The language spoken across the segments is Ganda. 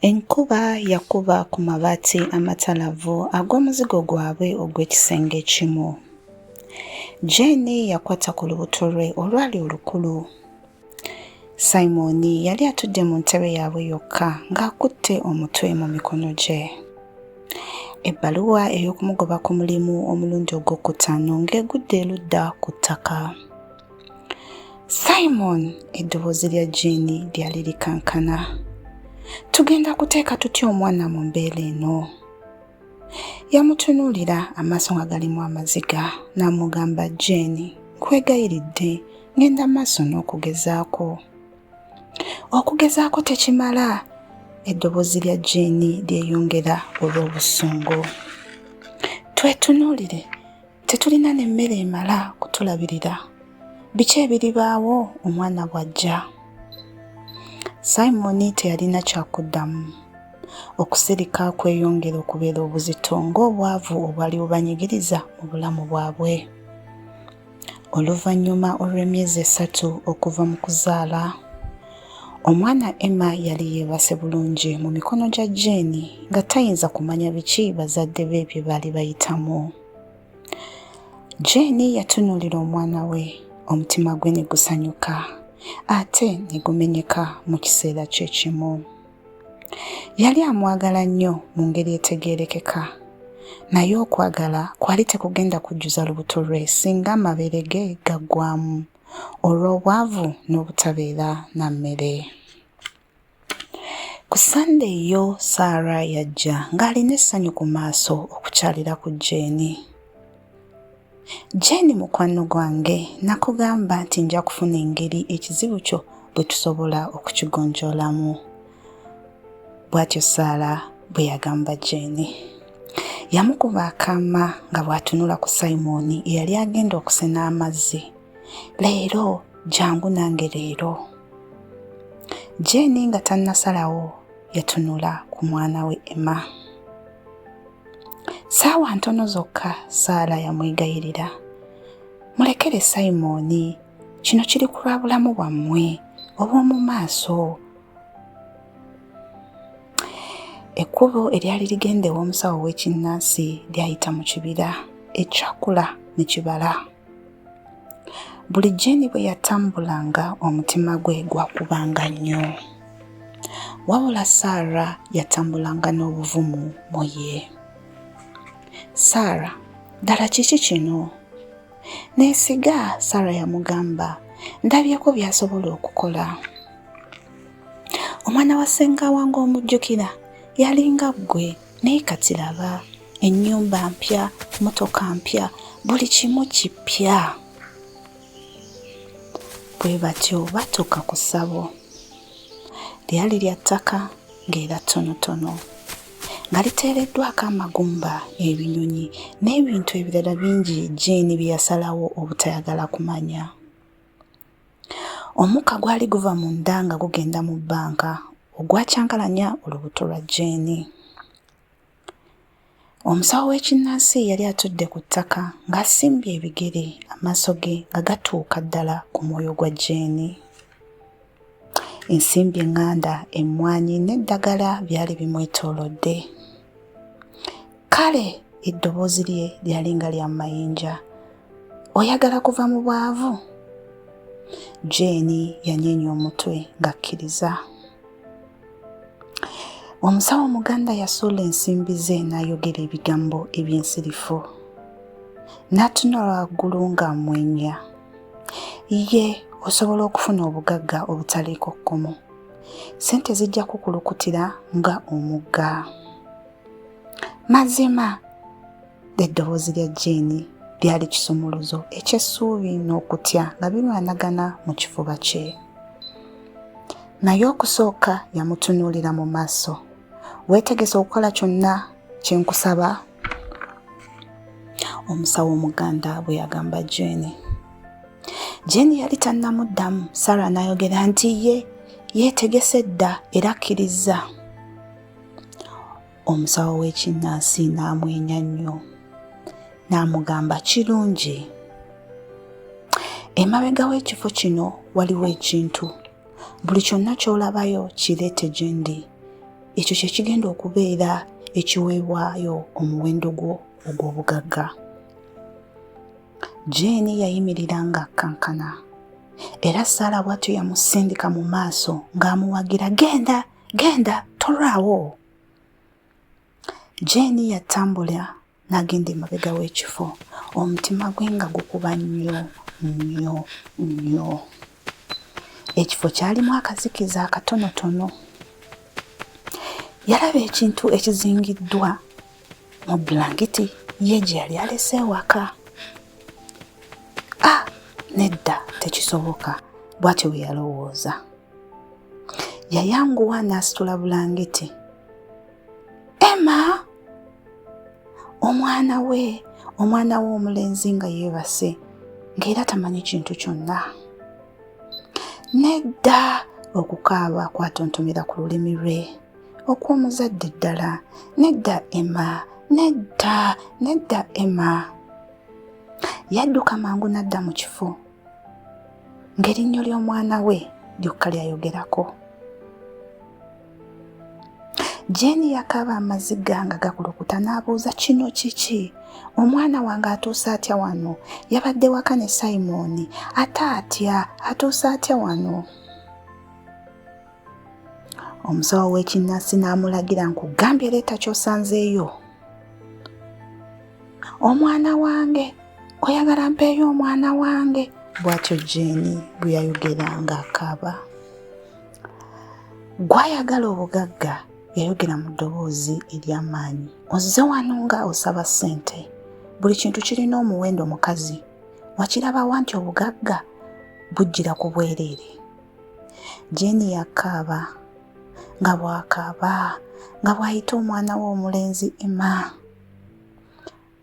Enkuba yakuba ku mabaati amatalavu ag'omuzigo gwabwe ogw'ekisenge ekimu. Jane yakwata ku lubuto lwe olwali olukulu. Simoni yali atudde mu ntebe yaabwe yokka ng'akutte omutwe mu mikono gye. Ebbaluwa ey'okumugoba ku mulimu omulundi ogw'okutaano ng'egudde erudda ku ttaka. simon eddoboozi lya jiini lyali likankana tugenda kuteeka tutya omwana mu mbeera eno yamutunuulira amaaso nga galimu amaziga n'amugamba jeeni nkwegayiridde ngenda maaso n'okugezaako okugezaako tekimala eddoboozi lya jeeni lyeyongera olw'obusungu twetunuulire Tetulina n'emmere emala kutulabirira. Biki ebiribaawo omwana bw'ajja? Simoni teyalina kyakuddamu. Okusirika kweyongera okubeera obuzito ng'obwavu obwali bubanyigiriza mu bulamu bwabwe. Oluvannyuma olw'emyezi esatu okuva mu kuzaala, Omwana Emma yali yeebase bulungi mu mikono gya Jane nga tayinza kumanya biki bazadde be bye baali bayitamu. Jane yatunuulira omwana we, omutima gwe ne gusanyuka ate ne gumenyeka mu kiseera kye kimu. Yali amwagala nnyo mu ngeri etegeerekeka, naye okwagala kwali tekugenda kujjuza lubuto lwe singa amabeere ge gaggwamu olw'obwavu n'obutabeera na mmere. Ku Ssande yo Saara yajja ng'alina essanyu ku maaso okukyalira ku Jeeni. Jeeni mukwano gwange nakugamba nti nja kufuna engeri ekizibu kyo bwe tusobola okukigonjoolamu. bw'atyo saala bwe yagamba jeeni yamukuba akaama nga bw'atunula ku simoni eyali agenda okusena amazzi leero jangu nange leero jeeni nga tannasalawo yatunula ku mwana we emma saawa ntono zokka saala yamwegayirira mulekere simoni kino kiri ku lwa bulamu bwammwe obw'omu maaso ekkubo eryali ligenda ew'omusawo w'ekinnansi lyayita mu kibira ekyakula ne kibala buli jeeni bwe yatambulanga omutima gwe gwakubanga nnyo wabula saara yatambulanga n'obuvumu mu ye saara ddala kiki kino neesiga saara yamugamba ndabyeko by'asobola okukola omwana wa ssenga wange omujjukira yalinga ggwe naye kati laba ennyumba mpya motoka mpya buli kimu kipya bwe batyo batuuka ku ssabo lyali lya ttaka ng'era ttonotono nga liteereddwako amagumba ebinyonyi n'ebintu ebirala bingi jeeni bye yasalawo obutayagala kumanya Omukka gwali guva mu nda nga gugenda mu bbanka ogwacankalanya olubuto lwa Jane. Omusawo w'ekinnansi yali atudde ku ttaka ng'asimbye ebigere amaaso ge nga gatuuka ddala ku mwoyo gwa Jane. ensimbi eŋŋanda emmwanyi n'eddagala byali bimwetoolodde kale eddoboozi lye lyali nga lya mayinja oyagala kuva mu bwavu jeeni yanyeenya omutwe ng'akkiriza omusawo omuganda yasuula ensimbi ze n'ayogera ebigambo eby'ensirifu n'atunula waggulu ng'amwenya ye osobola okufuna obugagga obutaliiko kkomo sente zijja kukulukutira nga omugga mazima eddoboozi lya jeeni lyali kisumuluzo eky'essuubi n'okutya nga birwanagana mu kifuba kye naye okusooka yamutunuulira mu maaso weetegese okukola kyonna kye nkusaba omusawo omuganda bwe yagamba jeeni jeeni yali tannamuddamu sara n'ayogera nti ye yeetegese dda era akkirizza omusawo w'ekinnansi n'amwenya nnyo n'amugamba kirungi emabega w'ekifo kino waliwo ekintu buli kyonna ky'olabayo kireete gye ndi ekyo kye kigenda okubeera ekiweebwayo omuwendo gwo ogw'obugagga jeeni yayimirira ng'akkankana era saala bw'atyo yamusindika mu maaso ng'amuwagira genda genda tolwawo jeeni yatambula n'agenda emabega w'ekifo omutima gwe nga gukuba nnyo nnyo nnyo ekifo kyalimu akazikiza akatonotono yalaba ekintu ekizingiddwa mu bulangiti ye gye yali alese ewaka ah nedda tekisoboka bwatyo bwe yalowooza yayanguwa n'asitula bulangiti emma omwana we omwana we omulenzi nga yeebase ng'era tamanyi kintu kyonna nedda okukaaba kwatontomera ku lulimi lwe okw'omuzadde ddala nedda emma nedda nedda emma yadduka mangu n'adda mu kifo ng'erinnyo ly'omwana we lyokka lyayogerako jeeni yakaaba amaziga nga gakulukuta n'abuuza kino kiki omwana wange atuuse atya wano yabadde waka ne simoni ate atya atuuse atya wano omusawo w'ekinnansi n'amulagira nkugambye leeta kyosanzeeyo omwana wange oyagala mpeeyo omwana wange bwatyo jeeni bwe yayogera ng'akaaba gwayagala obugagga yayogera mu ddoboozi ery'amaanyi ozze wano nga osaba ssente buli kintu kirina omuwendo mukazi wakirabawa nti obugagga bujjira ku bwereere Jane yakaaba nga bwakaaba nga bw'ayita omwana we omulenzi Emma.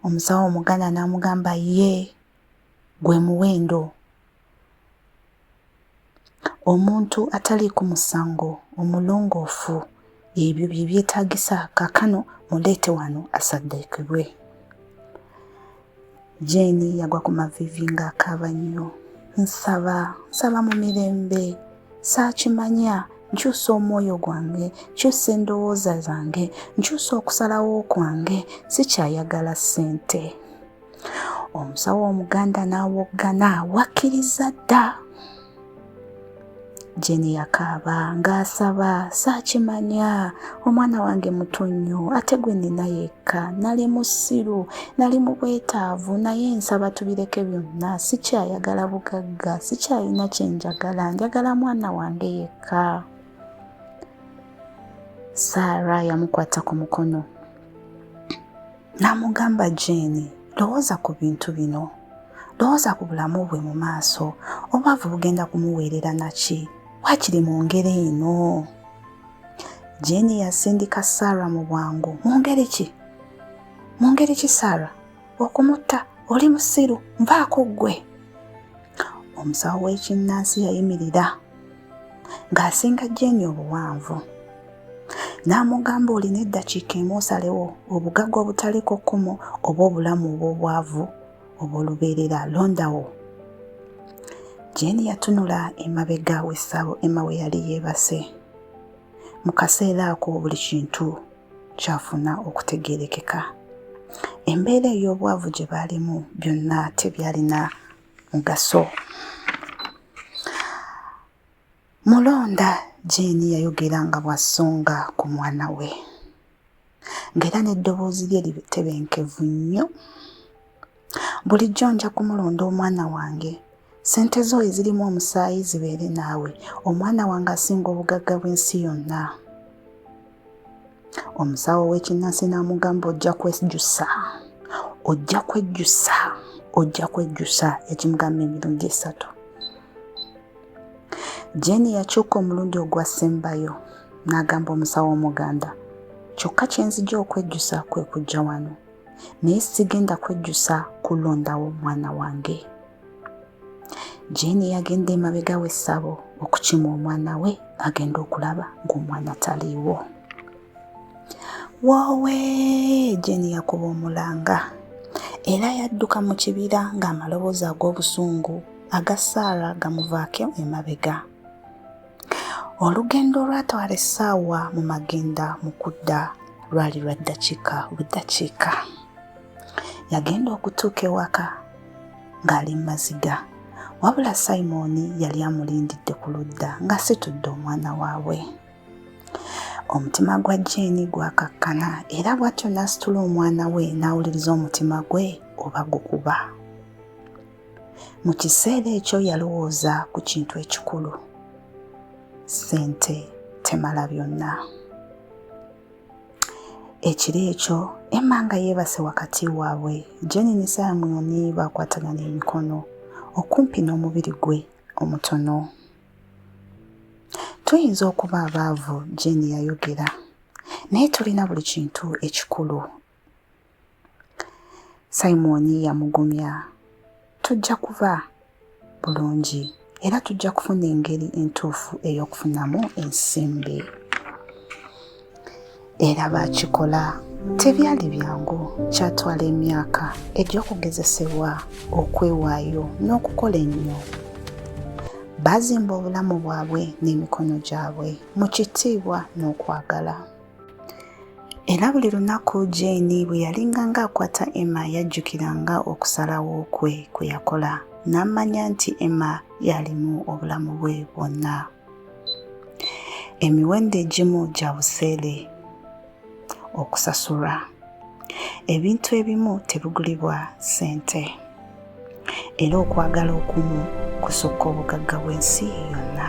Omusawo omuganda n'amugamba ye gwe muwendo omuntu atali ku musango omulongoofu ebyo bye byetaagisa kakano muleete wano asaddeekebwe jeeni yagwa ku mavivi ng'akaaba nnyo nsaba nsaba mu mirembe saakimanya nkyusa omwoyo gwange nkyusa endowooza zange nkyusa okusalawo kwange sikyayagala ssente omusawo omuganda n'awoggana wakkiriza dda jeni yakaaba ng'asaba saakimanya omwana wange muto nnyo ate gwe nina yekka nali musiru nali mu bwetaavu naye nsaba tubireke byonna sikyayagala bugagga sikyalina kye njagala njagala mwana wange yekka saara yamukwata ku mukono n'amugamba jeeni lowooza ku bintu bino lowooza ku bulamu bwe mu maaso obwavu bugenda kumuweerera naki wakiri mu ngeri eno jeeni yasindika saara mu bwangu mu ngeri ki mu ngeri ki saara okumutta oli musiru nvaako ggwe omusawo w'ekinnansi yayimirira ng'asinga Jeeni obuwanvu. N'amugamba olina eddakiika emu osalewo obugagga obutaliiko kkomo oba obulamu obw'obwavu obw'olubeerera londawo. Jeeni yatunula emabega w'essabo Emma we yali yeebase. Mu kaseera ako buli kintu kyafuna okutegeerekeka. Embeera ey'obwavu gye baalimu byonna tebyalina mugaso mulonda jeeni yayogera nga bw'asonga ku mwana we ng'era n'eddoboozi lye litebenkevu nnyo bulijjo nja kumulonda omwana wange sente zo ezirimu omusaayi zibeere naawe omwana wange asinga obugagga bw'ensi yonna omusawo w'ekinnansi n'amugamba ojja kwejjusa ojja kwejjusa ojja kwejjusa yakimugamba emirundi esatu jeni yakyuka omulundi ogwasembayo n'agamba omusawo omuganda kyokka kye nzija okwejjusa kwe kujja wano naye sigenda kwejjusa kulondawo mwana wange Jane yagenda emabega w'essabo okukima omwana we agenda okulaba ng'omwana taliiwo. Woowe! Jane yakuba omulanga era yadduka mu kibira ng'amaloboozi ag'obusungu aga Saara gamuvaako emabega. Olugendo olwatwala essaawa mu magenda mu kudda lwali lwa ddakiika buddakiika. Yagenda okutuuka ewaka ng'ali mu maziga wabula simooni yali amulindidde ku ludda ng'asitudde omwana waabwe omutima gwa jeeni gwakakkana era bw'atyo n'asitula omwana we n'awuliriza omutima gwe oba gukuba mu kiseera ekyo yalowooza ku kintu ekikulu sente temala byonna ekiro ekyo emma nga yeebase wakati waabwe jeni ne samuoni baakwatagana emikono okumpi n'omubiri gwe omutono tuyinza okuba abaavu jeni yayogera naye tulina buli kintu ekikulu simoni yamugumya tujja kuba bulungi era tujja kufuna engeri entuufu ey'okufunamu ensimbi era baakikola tebyali byangu kyatwala emyaka egy'okugezesebwa okwewaayo n'okukola ennyo baazimba obulamu bwabwe n'emikono gyabwe mu kitiibwa n'okwagala Era buli lunaku Jane bwe yalinganga akwata Emma yajjukiranga okusalawo kwe kwe yakola n'amanya nti Emma yalimu obulamu bwe bwonna. Emiwendo egimu gya buseere okusasulwa. Ebintu ebimu tebigulibwa ssente. Era okwagala okumu kusukka obugagga bw'ensi yonna.